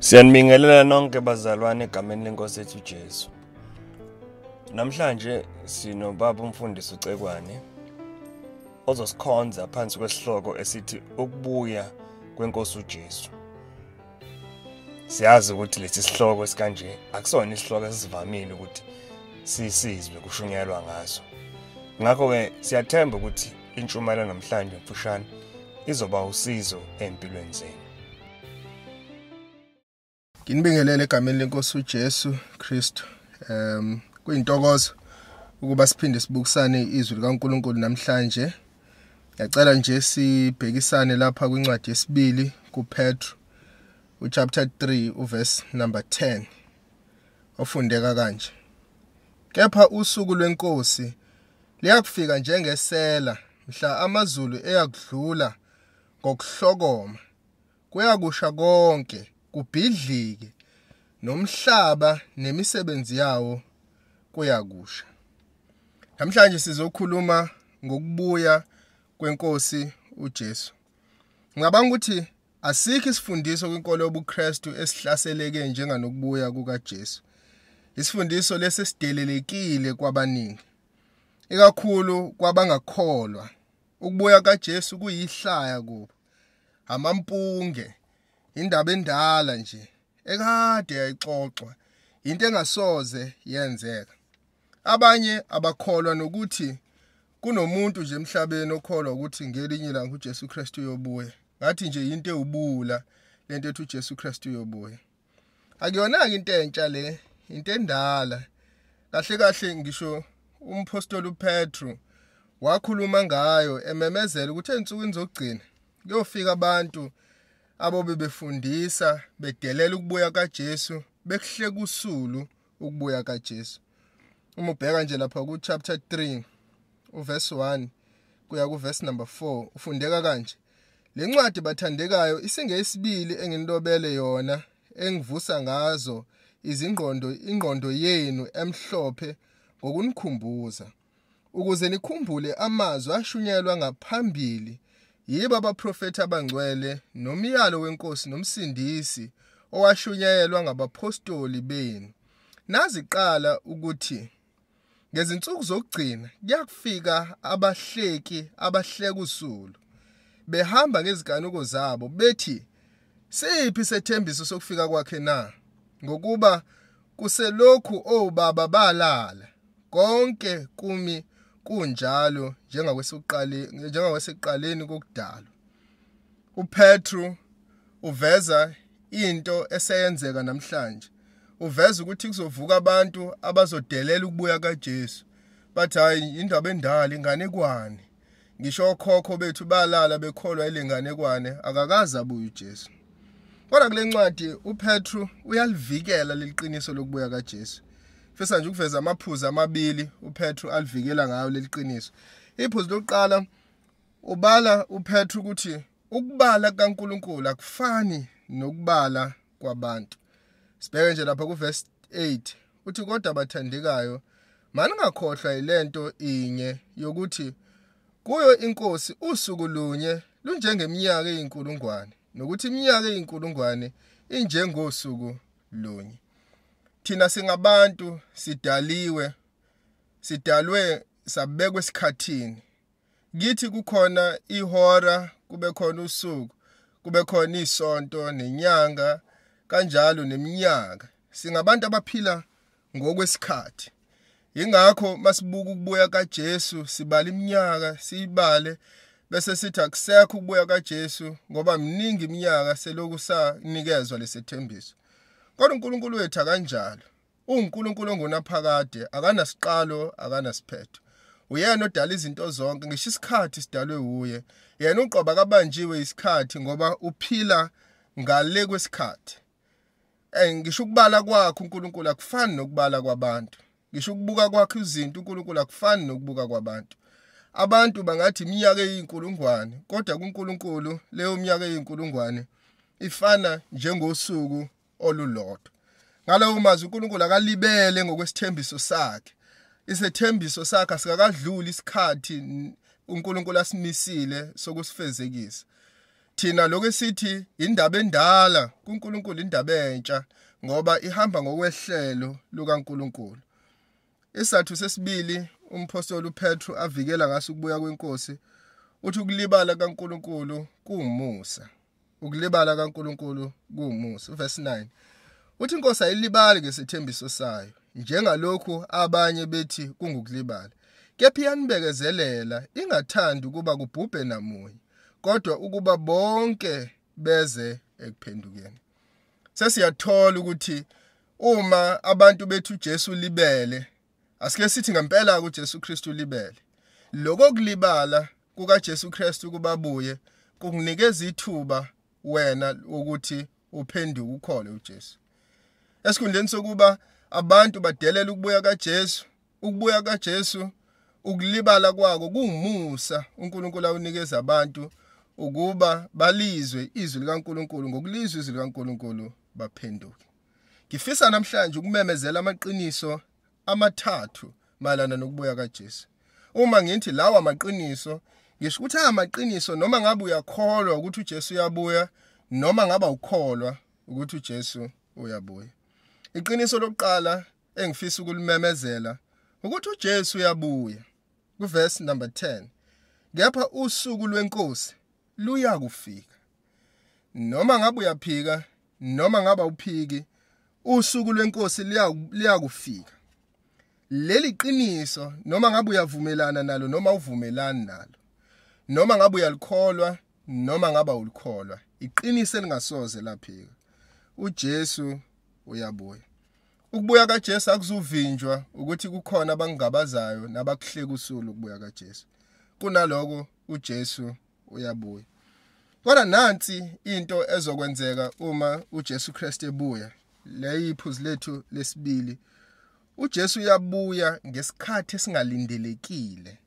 Siyanibingelela nonke bazalwane egameni lenkosi ethu Jesu. Namhlanje sinobaba umfundisi uCekwane ozosikhonza phansi kwesihloko esithi ukubuya kwenkosi uJesu. Siyazi ukuthi lesi sihloko esikanje akusona isihloko esivamile ukuthi sisizwe kushunyelwa ngaso. Ngakho ke siyathemba ukuthi intshumayelo namhlanje mfushane izoba usizo empilweni zenu. Nginibingelele egameni lenkosi uJesu Kristu. Um kuyintokozo ukuba siphinde sibukisane izwi likaNkuluNkulu namhlanje. Ngiyacela nje sibhekisane lapha kwincwadi yesibili kuPetru uchapter 3 uverse number 10 ofundeka kanje. Kepha usuku lwenkosi liyakufika njengesela mhla amazulu eyakudlula ngokuhlokoma kuyakusha konke kubhidlike nomhlaba nemisebenzi yawo kuyakusha namhlanje sizokhuluma ngokubuya kwenkosi uJesu ngicabanga ukuthi asikho isifundiso kwinkolo yobuKristu esihlaseleke njenganokubuya kukaJesu isifundiso lesi sidelelekile kwabaningi ikakhulu kwabangakholwa ukubuya kaJesu kuyihlaya kubo amampunge indaba endala nje ekade yayixoxwa into engasoze yenzeka abanye abakholwa nokuthi kunomuntu nje emhlabeni okholwa ukuthi ngelinye ilanga uJesu Kristu uyobuya ngathi nje into ewubula lento ethi uJesu Kristu uyobuya akuyona-ke into entsha le into endala kahle kahle ngisho umphostoli upetru wakhuluma ngayo ememezela ukuthi ezinsukwini zokugcina kuyofika abantu abobe befundisa bedelela ukubuya kaJesu bekuhle kusulu ukubuya kaJesu uma ubheka nje lapha ku chapter 3 uverse 1 kuya ku verse number 4 ufundeka kanje lencwadi bathandekayo isingeyisibili enginilobele yona engivusa ngazo izingqondo ingqondo yenu emhlophe ngokunikhumbuza ukuze nikhumbule amazwi ashunyelwa ngaphambili yibo abaprofethi abangcwele nomyalo wenkosi nomsindisi owashunyayelwa ngabaphostoli benu naziqala ukuthi ngezinsuku zokugcina kuyakufika abahleki abahleka usulu behamba ngeziganuko zabo bethi Siphi sethembiso sokufika kwakhe na? Ngokuba kuselokhu obaba balala, konke kumi kunjalo njengawasekuqaleni kokudalwa. UPetru uveza into eseyenzeka namhlanje. Uveza ukuthi kuzovuka abantu abazodelela ukubuya kaJesu. Bathi hayi indaba endala inganekwane. ngisho okhokho bethu balala bekholwa ilenganekwane akakaze abuye uJesu kodwa kule ncwadi uPetru uyalivikela leliqiniso lokubuya kaJesu fisa nje ukuveza amaphuzu amabili uPetru alivikela ngayo leliqiniso iphuzu lokuqala ubala uPetru ukuthi ukubala kaNkuluNkulu akufani nokubala kwabantu sibheke nje lapha kuverse 8 uthi kodwa bathandekayo maningakhohlwa yilento inye yokuthi kuyo inkosi usuku lunye lunjengeminyaka eyinkulungwane nokuthi iminyaka eyinkulungwane injengosuku lunye thina singabantu sidaliwe sidalwe sabekwe esikhathini kithi kukhona ihora kube khona usuku kube khona isonto nenyanga kanjalo neminyaka singabantu abaphila ngokwesikhathi ingakho masibuka ukubuya kaJesu sibala iminyaka siyibale bese sithi akusekho ukubuya kaJesu ngoba miningi iminyaka seloku sanikezwa lesethembiso kodwa uNkulunkulu wethu akanjalo UNkulunkulu ongunaphakade, akanasiqalo, akanasiphetho. Uyena odala izinto zonke, ngisho isikhathi sidalwe wuye. Yena uqoba kabanjiwe isikhathi ngoba uphila ngale kwesikhathi. Eh ngisho ukubala kwakhe uNkulunkulu akufani nokubala kwabantu. Ngisho ukubuka kwakhe izinto uNkulunkulu akufani nokubuka kwabantu. Abantu bangathi iminyaka eyinkulungwane, kodwa kuNkulunkulu leyo minyaka eyinkulungwane ifana njengosuku olulodwa ngalawo mazwi uNkulunkulu akalibele ngokwesithembiso sakhe isethembiso sakhe asikakadluli isikhathi uNkulunkulu asimisile sokusifezekisa thina lokho esithi indaba endala kuNkulunkulu indaba entsha ngoba ihamba ngokwehlelo lukaNkulunkulu isathu sesibili umphostoli uPetru avikela ngaso ukubuya kwenkosi uthi ukulibala kaNkuluNkulu kuwumusa ukulibala kaNkuluNkulu kuwumusa verse 9 uthi inkosi ayilibali ngesethembiso sayo njengalokhu abanye bethi kungukulibala kepha iyanibekezelela ingathandi ukuba kubhubhe namunye kodwa ukuba bonke beze ekuphendukeni sesiyathola ukuthi uma abantu bethu Jesu libele Asike sithi ngempela uJesu Kristu libele. Lokho kulibala kukaJesu Kristu ukuba buye kukunikeza ithuba wena ukuthi uphenduke ukhole uJesu. Esikhundleni sokuba abantu badelela ukubuya kaJesu, ukubuya kaJesu ukulibala kwako kungumusa uNkulunkulu awunikeza abantu ukuba balizwe izwi likaNkulunkulu ngokulizwa izwi likaNkulunkulu baphenduke. Ngifisa namhlanje ukumemezela amaqiniso amathathu mayelana nokubuya kaJesu. Uma ngithi lawa maqiniso, ngisho ukuthi amaqiniso noma ngabe uyakholwa ukuthi uJesu uyabuya noma ngaba ukholwa ukuthi uJesu uyabuya. Iqiniso lokuqala engifisa ukulimemezela ukuthi uJesu uyabuya. Kuverse number 10. Kepha usuku lwenkosi luya kufika. Noma ngabe uyaphika noma ngaba uphiki usuku lwenkosi liyakufika leli qiniso noma ngabe uyavumelana nalo noma uvumelani nalo noma ngabe uyalikholwa noma ngaba ulikholwa iqiniso elingasoze laphika uJesu uyabuya ukubuya kaJesu akuzuvinjwa ukuthi kukhona abangabazayo nabakuhleka usulu ukubuya kaJesu kunaloko uJesu uyabuya kodwa nansi into ezokwenzeka uma uJesu Kristu ebuya leyiphuzu lethu lesibili uJesu uyabuya ngesikhathi esingalindelekile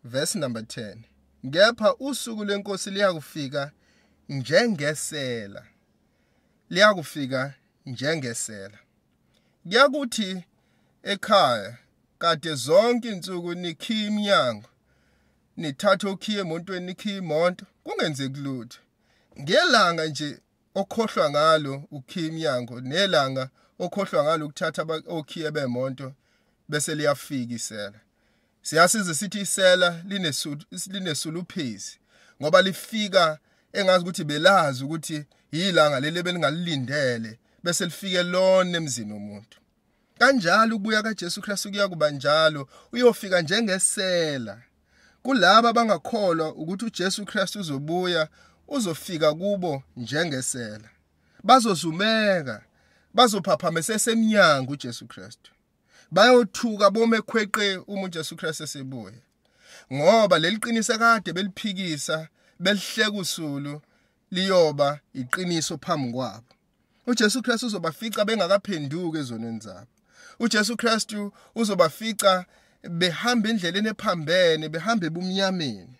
verse number 10 kepha usuku lenkosi liyakufika njengesela liyakufika njengesela kuyakuthi ekhaya kade zonke insuku nikhi iminyango nithathe okhiye emontweni nikhiye imonto kungenzeki lutho ngelanga nje okhohlwa ngalo ukhiya imnyango nelanga okhohlwa ngalo ukuthatha okhiye bemonto bese liyafika isela siyasiza sithi isela linesuluphezi ngoba lifika engazi ukuthi belazi ukuthi yilanga leli ebelingalilindele bese lifike lona emzini womuntu Kanjalo ukubuya kaJesu Kristu kuyakuba njalo, uyofika njengesela. Kulabo abangakholwa ukuthi uJesu Kristu uzobuya, uzofika kubo njengesela. Bazozumeka, bazophaphamisa sesemnyango uJesu Kristu. Bayothuka bome khweqe uma uJesu Kristu esebuya. Ngoba leli qiniso kade beliphikisa, belihleka usulu liyoba iqiniso phambi kwabo. uJesu Kristu uzobafica bengakaphenduki ezonweni zabo uJesu Kristu uzobafica behamba endleleni ephambene behamba ebumnyameni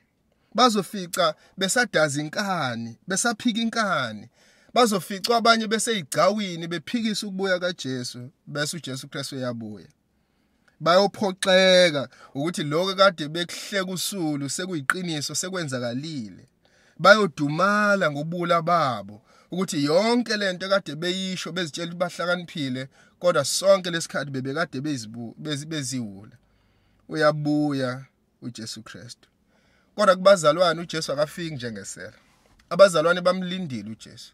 bazofica besadaza inkani besaphika inkani bazoficwa abanye beseyigcawini bephikisa ukubuya kaJesu bese uJesu Kristu uyabuya bayophoxeka ukuthi lokho kade bekuhleka usulu sekuyiqiniso sekwenzakalile bayodumala ngobula babo ukuthi yonke lento kade beyisho bezitshela ukuthi bahlakaniphile kodwa sonke lesikhathi bebekade beziwula uyabuya uJesu Kristu kodwa kubazalwane uJesu akafiki njengesela abazalwane bamlindile uJesu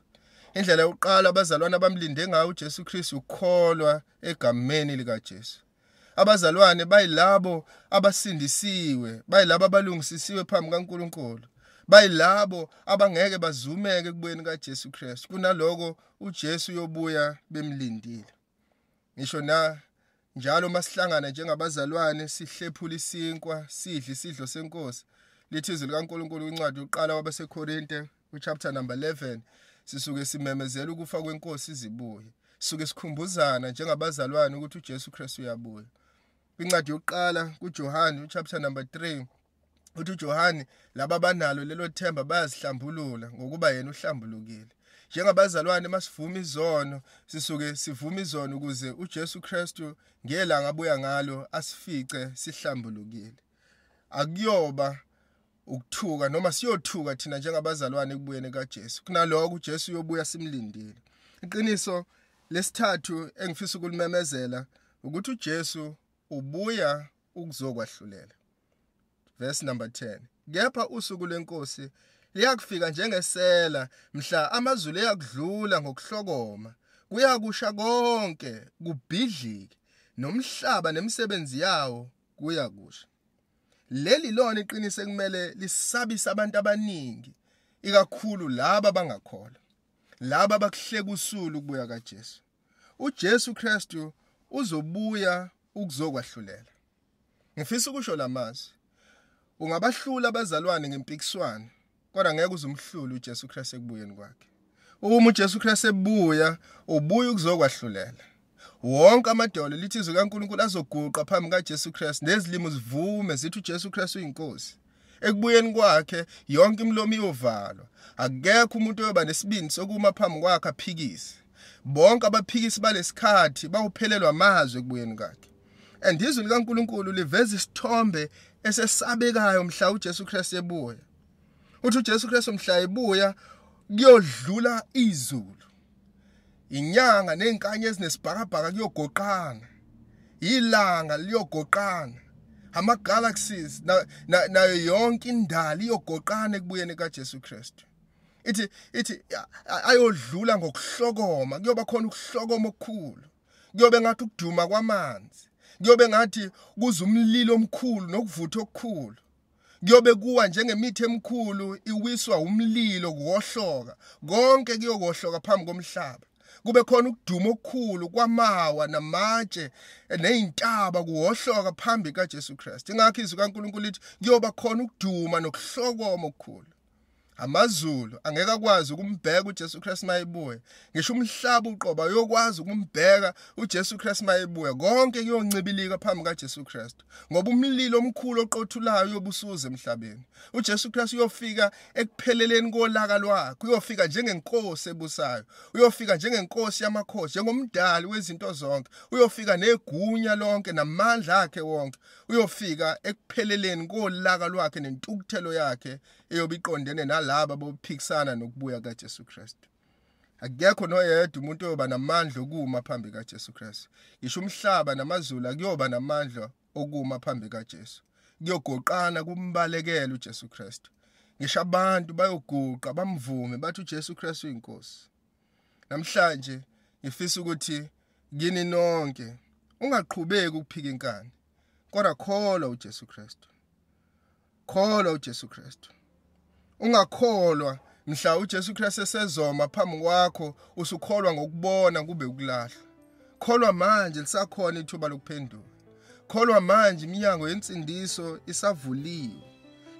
indlela yokuqala abazalwane abamlinde ngayo uJesu Kristu ukukholwa egameni likaJesu. Abazalwane bayilabo abasindisiwe, bayilabo abalungisisiwe phambi kaNkuluNkulu. Bayilabo abangeke bazumeke kubuyeni kaJesu Kristu. Kunaloko uJesu uyobuya bemlindile. Ngisho na njalo masihlangana njengabazalwane sihlephula isinkwa, sidle isidlo seNkosi. Lithi izwi likaNkuluNkulu kwincwadi yokuqala wabaseKorinte Kwichapter number 11 sisuke simemezela ukufa kwenkosi izibuye. Sisuke sikhumbuzana njengabazalwane ukuthi uJesu Kristu uyabuya. Kwincwadi yokuqala kuJohane uchapter number 3 uthi uJohane laba banalo lelo themba bayazihlambulula ngokuba yena uhlambulukile. Njengabazalwane masivuma izono sisuke sivuma izono ukuze uJesu Kristu ngelanga abuya ngalo asifice sihlambulukile. Akuyoba ukuthuka noma siyothuka thina njengabazalwane ekubuyeni kaJesu kunaloko uJesu uyobuya simlindile iqiniso lesithathu engifisa ukulimemezela ukuthi uJesu ubuya ukuzokwahlulela verse number 10 kepha usuku lenkosi liyakufika njengesela mhla amazulu eyakudlula ngokuhlokoma kuyakusha konke kubhidlike nomhlaba nemisebenzi yawo kuyakusha Leli lona iqiniso ekumele lisabise abantu abaningi ikakhulu laba bangakholwa. Laba bakuhleka usulu ukubuya kaJesu. UJesu Kristu uzobuya ukuzokwahlulela. Ngifisa ukusho lamazwi. Ungabahlula abazalwane ngempikiswano kodwa ngeke uze umhlule uJesu Kristu ekubuyeni kwakhe uma uJesu Kristu ebuya ubuya ukuzokwahlulela wonke amadolo lithi izwi kaNkuluNkulu azoguqa phambi kaJesu Kristu nezilimo zivume zithi uJesu Kristu uyinkosi ekubuyeni kwakhe yonke imilomo iyovalwa akekho umuntu oyoba nesibindi sokuma phambi kwakhe aphikise bonke abaphikisi balesikhathi bawuphelelwa amazwi ekubuyeni kwakhe and izwi likaNkuluNkulu liveza isithombe esesabekayo mhla uJesu Kristu ebuya uthi uJesu Kristu mhla ebuya kuyodlula izulu inyanga nezinkanye ezinesibhakabhaka kuyogoqana ilanga liyogoqana ama galaxies nayo yonke indali iyogoqana ekubuyeni kaJesu Kristu ithi ithi ayodlula ngokuhlokoma kuyoba khona ukuhlokoma okukhulu kuyobe ngathi ukuduma kwamanzi kuyobe ngathi kuza umlilo omkhulu nokuvutha okukhulu kuyobe kuwa njengemithi emikhulu iwiswa umlilo kuwohloka konke kuyokohloka phambi komhlaba kube khona ukuduma okukhulu kwamawa namatshe nezintaba kuwohloka phambi kaJesu Kristu ingakho izwi kaNkuluNkulu lithi kuyoba khona ukuduma nokuhlokoma okukhulu amazulu angeke akwazi ukumbheka uJesu Kristu mayebuya ngisho umhlaba uqoba uyokwazi ukumbheka uJesu Kristu mayebuya konke kuyoncibilika phambi kaJesu Kristu ngoba umlilo omkhulu oqothulayo uyobusuza emhlabeni uJesu Kristu uyofika ekupheleleni kolaka lwakhe uyofika njengenkosi ebusayo uyofika njengenkosi yamakhosi njengomdali wezinto zonke uyofika negunya lonke namandla akhe wonke uyofika ekupheleleni kolaka lwakhe nentukuthelo yakhe eyobe iqondene nalabo bophikisana nokubuya kaJesu Kristu akekho noyedwa umuntu oyoba namandla okuma phambi kaJesu Kristu ngisho umhlaba namazulu akuyoba namandla okuma phambi kaJesu kuyogoqana kumbalekela uJesu Kristu ngisho abantu bayoguqa bamvume bathi uJesu Kristu uyinkosi Namhlanje ngifisa ukuthi kini nonke ungaqhubeki ukuphika inkani kodwa kholwa uJesu Kristu. Kholwa uJesu Kristu. Ungakholwa mhla uJesu Kristu esezoma phambi kwakho usukholwa ngokubona kube ukulahlwa. Kholwa manje lisakhona ithuba lokuphenduka. Kholwa manje iminyango yensindiso isavuliwe.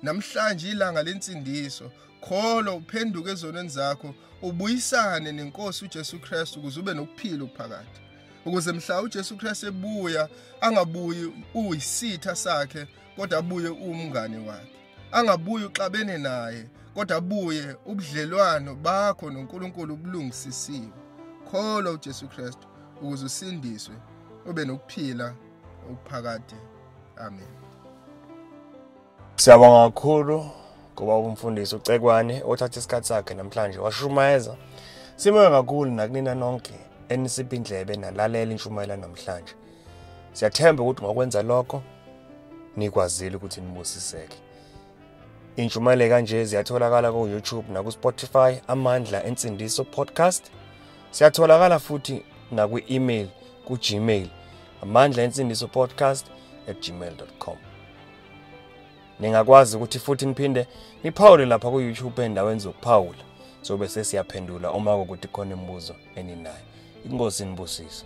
Namhlanje ilanga lensindiso, kholwa uphenduke ezonweni zakho, ubuyisane nenkosi uJesu Kristu ukuze ube nokuphila okuphakade. Ukuze mhla uJesu Kristu ebuya angabuyi uyisitha sakhe kodwa abuye umngane wakhe. angabuye uxabene naye kodwa abuye ubudlelwano bakho noNkulunkulu ubulungisisiwe kholwa uJesu Kristu ukuze usindiswe ube nokuphila okuphakade amen Siyabonga kakhulu ngoba umfundisi uCekwane othatha isikhathi sakhe namhlanje washumayeza Sibonga kakhulu nakunina nonke enisipha indlebe nalalele inshumayela namhlanje Siyathemba ukuthi ngokwenza lokho nikwazile ukuthi nibusiseke. Intshumayelo kanje ziyatholakala ku YouTube naku Spotify Amandla Ensindiso Podcast. Siyatholakala futhi nakwi email ku Gmail amandla ensindiso podcast at gmail.com ningakwazi ukuthi futhi niphinde niphawule lapha ku-youtube endaweni zokuphawula sobe sesiyaphendula uma kokuthi khona imibuzo eninayo inkosi inibusise